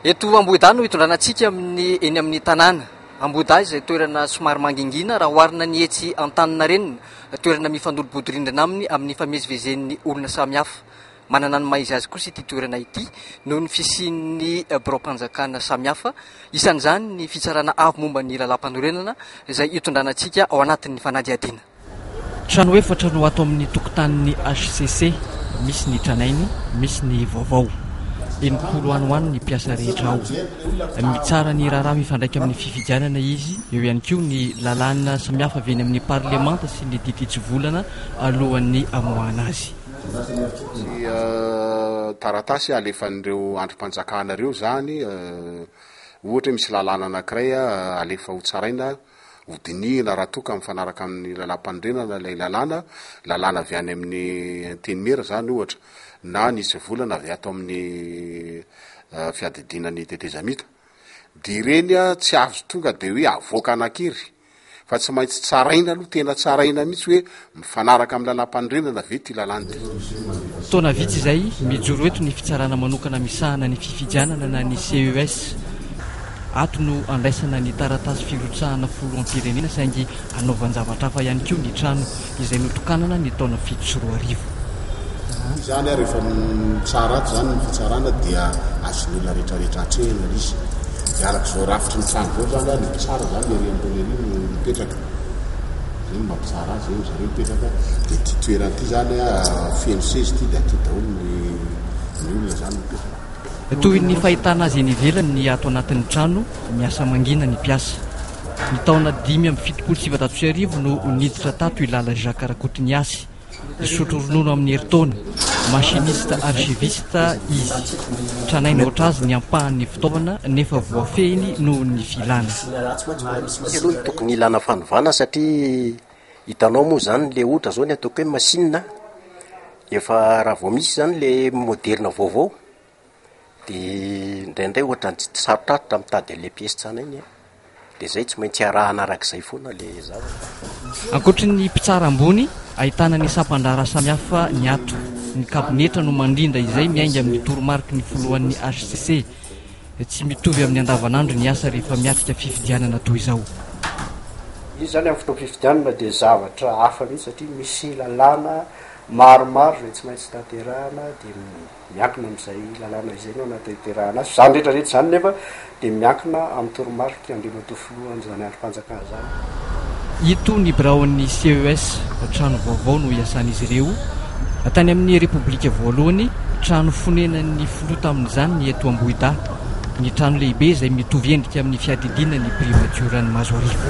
Eto Ambohidahy no hitondrana antsika amin'ny eny amin'ny tanàna. Ambohidahy izay toerana somary mangingina raha oharina ny etsy Antaninarenina, toerana mifandorobodirindrina aminy amin'ny ifamezivezen'ny olona samihafa. Manana ny maha izy azy kosa ity toerana ity noho ny fisian'ny biraom-panjakana samihafa, isan'izany ny Fitsarana Avo momba ny Lalàmpanorenana izay hitondrana antsika ao anatin'ny fanadihadiana. Trano efatra no ato amin'ny tokotanin'ny hcc, misy ny tranainy, misy ny vaovao. Enimpolo any ho any ny mpiasa rehetra ao. Mitsara ny raharaha mifandraika amin'ny fifidianana izy, eo ihany koa ny lalàna samihafa avy eny amin'ny parlemanta sy ny diditsivolana alohan'ny hamoahana azy. Tsy taratasy alefan'ireo andrim-panjakana ireo izany. Ohatra hoe misy lalàna anankiray alefa hotsaraina. Hodinihina raha toa ka mifanaraka amin'ny lalàmpanorenana ilay lalàna, lalàna avy any amin'ny Antenimiera izany ohatra, na ny hitsivolana avy ato amin'ny fiadidiana ny tetezamita. Dia ireny tsy azo tonga dia hoe avoaka anankery, fa tsy maintsy tsaraina aloha, tena tsaraina mihitsy hoe Mifanaraka amin'ny lalàmpanorenana ve ity lalàna ity? Taona vitsy izay, mijoro eto ny fitsarana manokana misahana ny fifidianana na ny CES. Ato no andraisana ny taratasy firotsahana Foloampirenena saingy anaovan-javatra hafa ihany koa ny trano izay notokanana ny taona fito sy roa arivo. Izany ary efa mitsara ato izany ny fitsarana dia azon'ny olona rehetrarehetra atrehina ilay izy. Dia araka izao rafitry ny trano izao izany ary ny mpitsara izany ery ambony ery no mipetraka. Zay no mampitsara azy zay ry zareo mipetraka dia ity toerana ity zany feno sezy ity dia aty daholo ny ny olona zany mipetraka. Toy ny fahitana azy eny ivelany ny ato anatin'ny trano miasa mangina ny mpiasa. Ny taona dimy amby fitopolo sy sivinjato sy arivo no niditra tato i Lala Jacques Rakotoniasy. Mpisotro ronono amin'ny herintaona, machiniste archiviste, izy. Tranainy ohatrazy ny ampahan'ny fitaovana nefa voafehiny noho ny filana. Izy aloha no tokony ilana fanovana satria hitanao moa izany ilay ohatra izao ny ataoko hoe machine an, efa raha vao misy izany ilay moderina vaovao, Dia indraindray ohatran'ny tsy sarotrarotra mitady an'ilay pièce tsy anay ny ahy. Dia izay, tsy maintsy arahana araka izay foana ilay zavatra. Ankoatry ny mpitsara ambony, ahitana ny sampan-draharaha samihafa ny ato. Ny kabinetra no mandrindra izay miainga amin'ny toromariky ny filohan'ny HCC. Tsy mitovy amin'ny andavanandro ny asa rehefa miatrika fifidianana toy izao. Izy izany amin'ny fotoam-pifidianana dia zavatra hafa mihitsy satria misy lalàna maromaro izay tsy maintsy tanterahana dia miankina amin'izay lalàna izay no anatanterahana azy. Izany rehetra rehetra izany nefa dia miankina amin'ny toromarika Andriamatoa Filohan'izany andrim-panjakana izany. Itony biraon'ny CES trano vaovao no iasan'izy ireo. Tany amin'ny Repoblika voalohany, trano fonenan'ny filoha tamin'izany ny eto Ambohidahy. Ny trano lehibe izay mitovy endrika amin'ny fiadidiana ny Primatioran'i Mazoarivo.